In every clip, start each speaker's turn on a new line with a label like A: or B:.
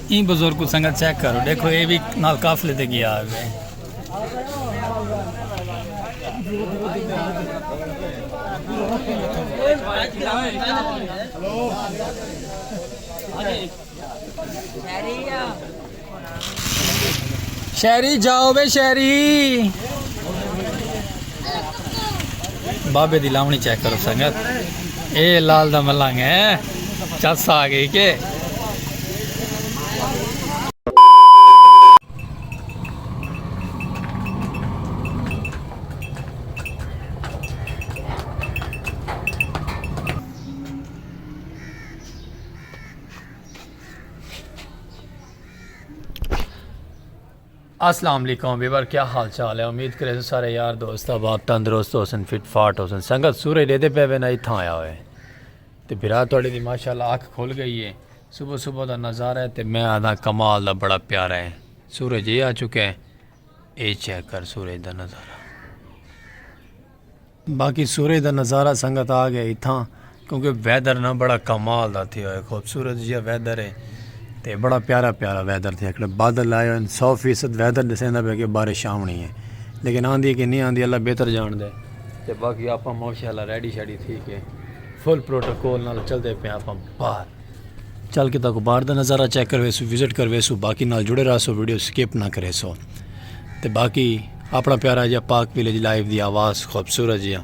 A: ایں بزرگ کوں سنگت چیک کرو ڈیکھو اے وی نال قافلے تے گیا ہوے۔ شہری جاؤ وے شہری بابے دی لاونی چیک کرو سنگت اے لال دا ملنگ ہے چس آ گئی کہ السلام علیکم ویور کیا حال چال ہے امید کرے سارے یار دوست آباد تندرست ہو سن فٹ فاٹ ہو سن سنگت سورج لیتے پہ وینا ہی تھا آیا ہوئے تے بھرا توڑے دی ماشاءاللہ آنکھ کھول گئی ہے صبح صبح دا نظارہ ہے تے میں آدھا کمال دا بڑا پیارا ہے سورج یہ آ چکے ہیں اے چیک کر سورج دا نظارہ باقی سورج دا نظارہ سنگت آ گیا اتھاں کیونکہ ویدر نہ بڑا کمال دا تھیا ہوئے خوبصورت جیا ویدر ہے تے بڑا پیارا پیارا ویدر تھیا کڑے بادل لائے ہوئے سو فیصد ویدر دسیں دا پہ کہ بارش آونی ہے لیکن آن دی ہے کہ نہیں آن دی اللہ بہتر جان دے تے باقی آپاں ماشاءاللہ ریڈی شیڈی تھی کے فل پروٹوکول نال چل دے پہ آپاں باہر چل کے تاکو باہر دا نظارہ چیک کرویسو وزٹ کرویسو باقی نال جڑے رہسو ویڈیو سکپ نہ کریسو تے باقی اپنا پیارا جا پاک ویلیج لائیو دی آواز خوبصورت جیا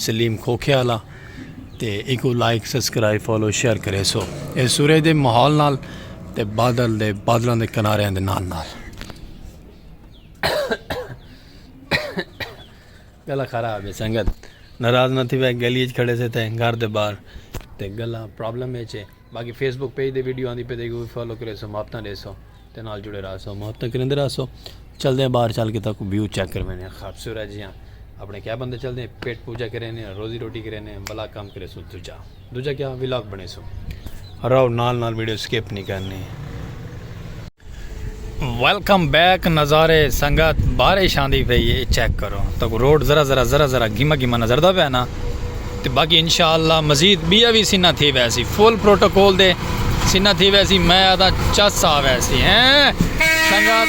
A: سلیم کھوکھے والا تے ایکو لائک سبسکرائب فالو شیئر کریسو اے سورے دے ماحول نال تے بادل دے بادلاں دے کنارے دے نال نال گلا خراب ہے سنگت ناراض نہ تھی وے گلی اچ کھڑے سے تھے گھر دے باہر تے گلا پرابلم اچ ہے باقی فیس بک پیج دے ویڈیو آندی پہ دے گی فالو کرے سو محبتاں دے سو تے نال جڑے رہا سو محبتاں کریں دے رہا سو چل دے باہر چل کے تک ویو چیک کر میں خوبصورت جیاں اپنے کیا بندے چل دے پیٹ پوجا کریں روزی روٹی کریں بلا کام کرے سو دوجا دوجا کیا ولاگ بنیسوں۔ راؤ نال نال ویڈیو سکپ نی کرنی۔ ویلکم بیک نظارے سنگت بارش آندی پئی اے چیک کرو تکوں روڈ ذرا ذرا ذرا ذرا گھما گھما نظر دا پیا نا تے باقی انشاءاللہ مزید بیا وی سنہ تھی ویسی فل پروٹوکول دے سنہ تھی ویسی میں آدھا چس آ ویسی ہیں سنگت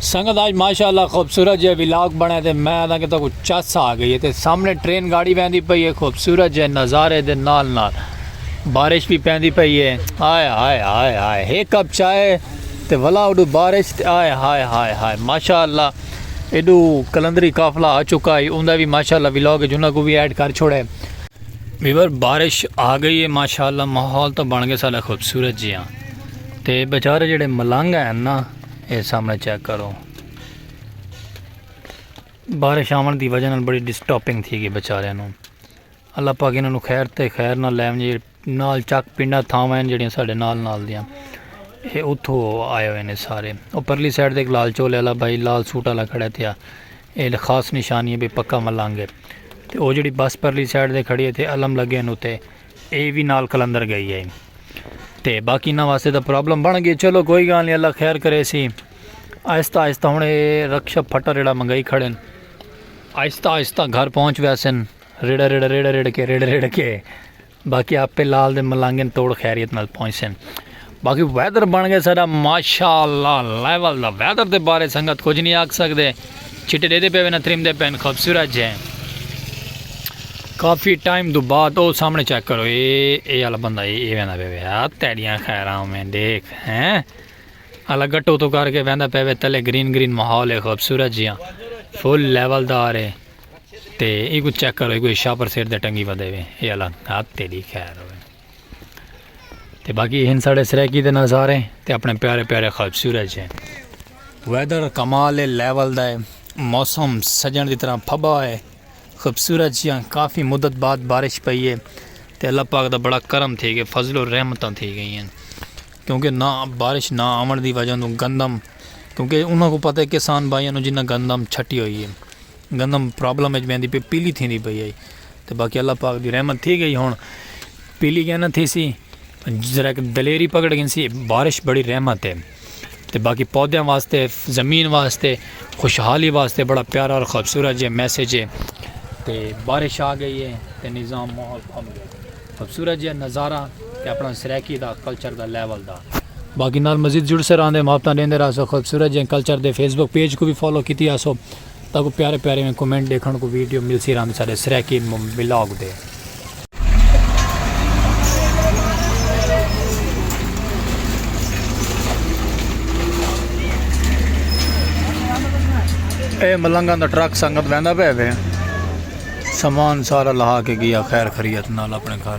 A: سنگت آج ماشاءاللہ خوبصورت جے ویلاگ بنے تے میں آدھا کہ تو کو چس آ گئی ہے تے سامنے ٹرین گاڑی بیندی پئی ہے خوبصورت جے نظارے دے نال نال بارش بھی پیندی پئی ہے آئے آئے آئے آئے ایک کپ چائے تے ولا اوڈو بارش تے آئے ہائے ہائے ہائے ماشاء اللہ ایڈو کلندری قافلہ آ چکا ہے اوندا بھی ماشاء اللہ ولاگ وچ انہاں کو بھی ایڈ کر چھوڑے ویور بارش آ گئی ہے ماشاء اللہ ماحول تو بن گئے سارا خوبصورت جی ہاں تے بیچارے جڑے ملنگ ہیں نا اے سامنے چیک کرو بارش آون دی وجہ نال بڑی ڈسٹاپنگ تھی گئی بیچارے نو اللہ پاک انہاں نو خیر تے خیر نہ لے ونجے نال چک پنڈا تھاواں ہیں جڑیاں ساڑے نال نال دیاں اے اتھو آئے ہوئے نے سارے او پرلی سائیڈ دیکھ لال چولے والا بھائی لال سوٹ والا کھڑے تھیا اے خاص نشانی ہے بھی پکا ملنگ ہے تے او جڑی بس پرلی سائیڈ دے کھڑی ہے تے علم لگے ہیں تے اے بھی نال کلندر گئی ہے تے باقی نہ واسطے دا پرابلم بن گئی چلو کوئی گال نہیں اللہ خیر کرے سی آہستہ آہستہ ہوں اے رکشہ پھٹا ریڑا منگائی کھڑے آہستہ آہستہ گھر پہنچ ویسن ریڑا ریڑا ریڑا ریڑ کے ریڑا ریڑ کے باقی آپ پہ لال دے ملانگن توڑ خیریت نال پہنچ سن باقی ویدر بن گئے سارا ماشاء اللہ لیول دا ویدر دے بارے سنگت کچھ نہیں آکھ سکتے چھٹے دے دے پہ وینا تریم دے پین خوبصورت جے کافی ٹائم دو بعد او سامنے چیک کرو اے اے والا بندہ اے اے ویندا پے ویا تیڑیاں خیراں میں دیکھ ہیں الا گٹو تو کر کے ویندا پے وے تلے گرین گرین ماحول ہے خوبصورت جیاں فل لیول دار ہے تے ای کو چیک کرو ای کو شاپر سیٹ دے ٹنگی ودے وے اے اللہ ہاں تیری خیر ہوے تے باقی ہن ساڑے سرائیکی دے نظارے تے اپنے پیارے پیارے خوبصورت ہیں ویدر کمال لیول دا ہے موسم سجن دی طرح پھبا ہے خوبصورت جیاں کافی مدت بعد بارش پئی ہے تے اللہ پاک دا بڑا کرم تھی گئے فضل و رحمتاں تھی گئی ہیں کیونکہ نہ بارش نہ آمن دی وجہ گندم کیونکہ انہوں کو پتہ ہے کسان بھائیوں جنہ گندم چھٹی ہوئی ہے گندم پرابلم اچ ویندی پئی پیلی تھیندی پئی ہئی تے باقی اللہ پاک دی رحمت تھی گئی ہن پیلی کیا نہ تھیسی ذرا کہ دلیری پکڑ گھنسی بارش بڑی رحمت ہے تے باقی پودیاں واسطے زمین واسطے خوشحالی واسطے بڑا پیارا اور خوبصورت جے میسج ہے تے بارش آ گئی ہے تے نظام ماحول کھل گیا خوبصورت جے نظارہ تے اپنا Saraiki the culture the level دا باقی نال مزید جڑ سر آندے محبتاں دیندے رہا سو خوبصورت جے کلچر دے فیس بک پیج کو بھی فالو کیتی آسو تاکو پیارے پیارے میں کومنٹ دیکھن کو ویڈیو مل سی رہن سارے سریکی ملاگ دے اے ملنگان دا ٹرک سنگت ویندہ پہ دے سامان سارا لہا کے گیا خیر خریت نال اپنے گھر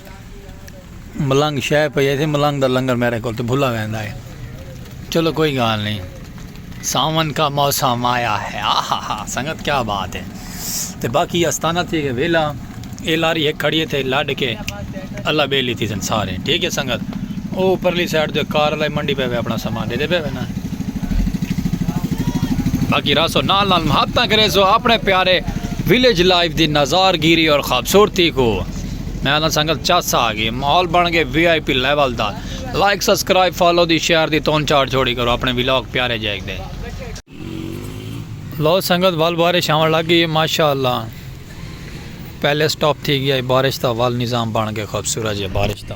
A: ملنگ شہ پہ ایسے ملنگ دا لنگر میرے کو تو بھلا ویندا ہے چلو کوئی گال نہیں ساون کا موسم آیا ہے آہا ہا سنگت کیا بات ہے تے باقی استانہ تھی گئے ویلا اے لاری ایک کھڑی تھے لڈ کے اللہ بے لیتی سن سارے ٹھیک ہے سنگت او پرلی سائڈ دے کار لائے منڈی پہ اپنا سامان دے دے پہ نا باقی راسو نال نال محبتہ کرے سو اپنے پیارے ویلیج لائف دی نظارگیری اور خوبصورتی کو میں آدھا سنگت چس آ گئی ماحول بن گئے وی آئی پی لیول دا لائک سبسکرائب فالو دی شیئر دی تون چاڑ چھوڑی کرو اپنے ویلاگ پیارے جیک دے لو سنگت ول بارش آون لگ گئی ماشاءاللہ پہلے سٹاپ تھی گیا بارش دا ول نظام بن گئے خوبصورت جے بارش دا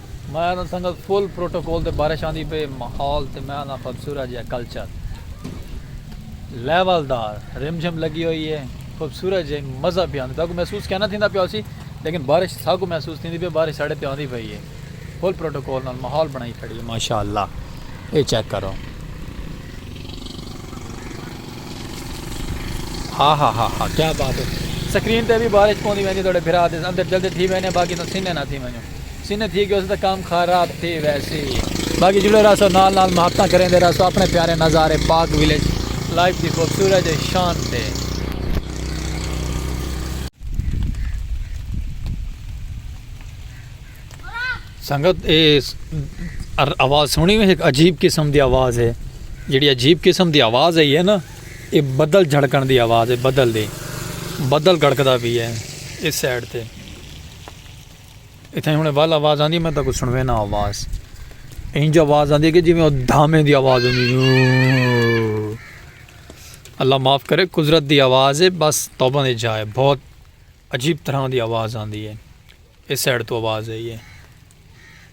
A: میں انہاں سنگت فل پروٹوکول تے بارش آندی پئی ماحول تے میں آنداں خوبصورت جیہا کلچر لیول دار رم جھم لگی ہوئی ہے خوبصورت جیہی مزہ پیا آندی تہاکوں محسوس کینا تھیندا پیا ہوسی لیکن بارش ساکوں محسوس تھیندی پئی بارش ساڈے تے آندی پئی ہے فل پروٹوکول نال ماحول بنائی کھڑی ہے ماشاءاللہ اے چیک کرو ہا ہا ہا ہا کیا بات ہے سکرین تے بھی بارش پوندی ویندی تہاڈے بھرا دے اندر جلدی تھی وینے باقی تسیں نے نہ تھی ونجو سینہ تھی گیو سی تاں کم خاراب تھی ویسی باقی جڑے رہسو نال نال محبتاں کریندے رہسو اپنے پیارے نظارے پاک ویلیج لائف دی خوبصورت جے شان تے۔ سنگت اے آواز سنی میں ایک عجیب قسم دی آواز ہے جڑی عجیب قسم دی آواز ہے یہ نا اے بدل جھڑکن دی آواز ہے بدل دی بدل گڑکدا بھی ہے اس سائڈ تے اتھاں ہن ول آواز آندی میں تاکوں سنوینا آواز انج آواز آندی کہ جویں او دھامے دی آواز ہوندی اللہ معاف کرے قدرت دی آواز ہے بس توبہ دی جائے بہت عجیب طرح دی آواز آندی ہے اس سائڈ تو آواز آئی ہے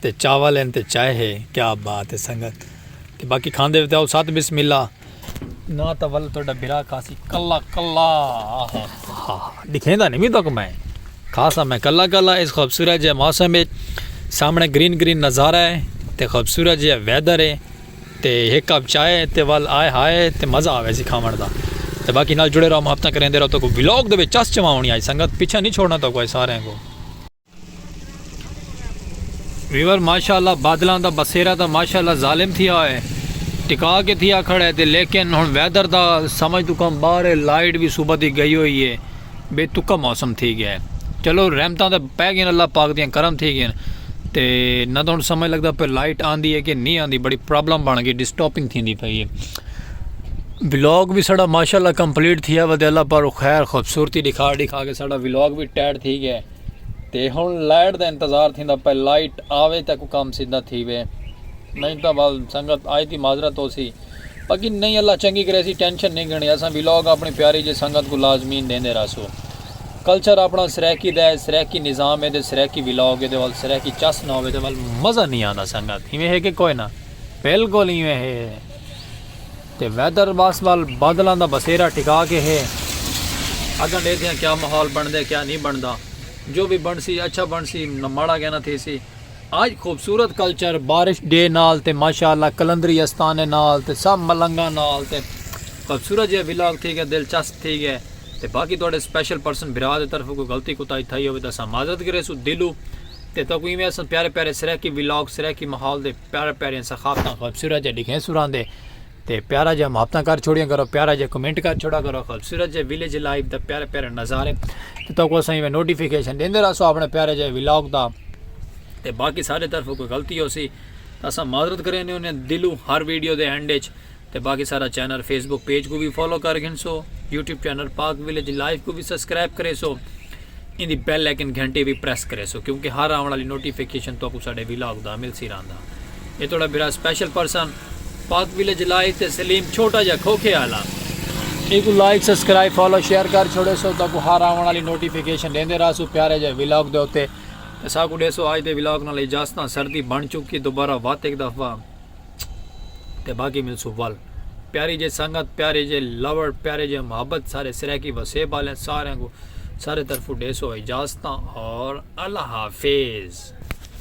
A: تے چاول ہن تے چائے ہے کیا بات ہے سنگت تے باقی کھاندے وتاؤ ست بسم اللہ نا تاں ول تہاڈا بھرا کھاسی کلا کلا آہا ہا دکھیندا نہیں وی تک میں کھاسا میں کلا کلا اس خوبصورت جے موسم وچ سامنے گرین گرین نظارہ ہے تے خوبصورت جے ویدر ہے تے ہک کپ چائے تے ول آئے ہائے تے مزہ آوے سی کھاون دا تے باقی نال جڑے رہو محبتاں کریندے رہو تہاکوں ولاگ دے وچ چس چواونی آئی سنگت پیچھے نہیں چھوڑنا تہاکوں آئی ساریں کوں ویور ماشاءاللہ بادلاں دا بسیرا تا ماشاءاللہ ظالم تھیا ہوئے ٹکا کے تھیا کھڑا ہے تے لیکن ہن ویدر دا سمجھ تو کم باہر ہے لائٹ بھی صبح دی گئی ہوئی ہے بے تکا موسم تھی گیا ہے چلو رحمتاں تے پہ گئے اللہ پاک دیاں کرم تھی گئے تے نہ تو ہن سمجھ لگدا پہ لائٹ آندی ہے کہ نہیں آندی بڑی پرابلم بن گئی ڈسٹاپنگ تھیندی پئی ہے ولاگ بھی ساڑا ماشاءاللہ کمپلیٹ تھیا ودے اللہ پر خیر خوبصورتی دکھا دکھا کے ساڑا ولاگ بھی ٹیڈ تھی گیا ہے تے ہن لائٹ دا انتظار تھیندا پئے لائٹ آوے تاں کوئی کم سدھا تھیوے نئیں تاں ول سنگت آئی دی معذرت ہوسی باقی نئیں اللہ چنگی کریسی ٹینشن نئیں گھنڑی اساں ویلاگ اپنی پیاری جی سنگت کوں لازمین ڈیندے رہسوں کلچر اپنا سرائیکی دا ہے سرائیکی نظام ہے تے سرائیکی ویلاگ ہے دے ول سرائیکی چس نہ ہووے تے ول مزہ نئیں آندا سنگت ایویں ہے کہ کوئی نہ بلکل ایویں ہے۔ تے ویدر باکس ول بادلاں دا بسیرا ٹکا کے ہے اگاں ڈیکھدے ہاں کیا ماحول بنڑدے کیا نی بنڑدا جو وی بنڑسی اچھا بنڑسی ماڑا کے نہ تھیسی اج خوبصورت کلچر بارش ڈے نال تے ماشاءاللہ قلندری استانے نال تے سب ملنگاں نال تے خوبصورت جیہا ولاگ تھی گیا دلچسپ تھی گیا تے باقی تہاڈے سپیشل پرسن بھرا دے طرفوں کوئی غلطی کوتاہی تھئی ہووے تاں اساں معذرت کریسوں دلوں تے تہاکوں ایویں اساں پیارے پیارے سرائیکی ولاگ سرائیکی ماحول دے پیارے پیارے ثقافتاں خوبصورت جے لکھیں سراں دے تے پیارا جا محبتاں کر چھوڑیاں کرو پیارا جا کمنٹ کر چھوڑا کرو خوبصورت جے ویلیج لائف دا پیارے پیارے نظارے تے تو کو سائیں میں نوٹیفیکیشن دیندے رہسو اپنے پیارے جے ولاگ دا تے باقی سارے طرف کوئی غلطی ہو سی اساں معذرت کریں نے انہیں دلو ہر ویڈیو دے اینڈ وچ تے باقی سارا چینل فیس بک پیج کوں وی فالو کر گھنسو YouTube channel Pak village live کوں وی سبسکرائب کریسو ایندی بیل آئیکن گھنٹی وی پریس کریسو کیونکہ ہر آون والی نوٹیفیکیشن تہاکوں ساڈے ویلاگ دا ملسی رہندا اے تہاڈا بھرا special person Pak village live تے سلیم چھوٹا جا کھوکھے آلا ایکو لائک سبسکرائب فالو شیئر کر چھوڑے سو تہاکوں ہر آون والی نوٹیفیکیشن ڈیندے رہسو پیارے جے ویلاگ دے اوتے تے ساکوں ڈیسو اج دے ویلاگ نال اجازتاں سردی بن چکی دوبارہ وات ہک دفعہ تے باقی ملسوں ول۔ پیاری جے سنگت پیارے جے لوڑ پیارے جے محبت سارے سرائیکی وسیب آلیں ساریں کوں سارے طرفوں ڈیسو اجازتاں اور اللہ حافظ۔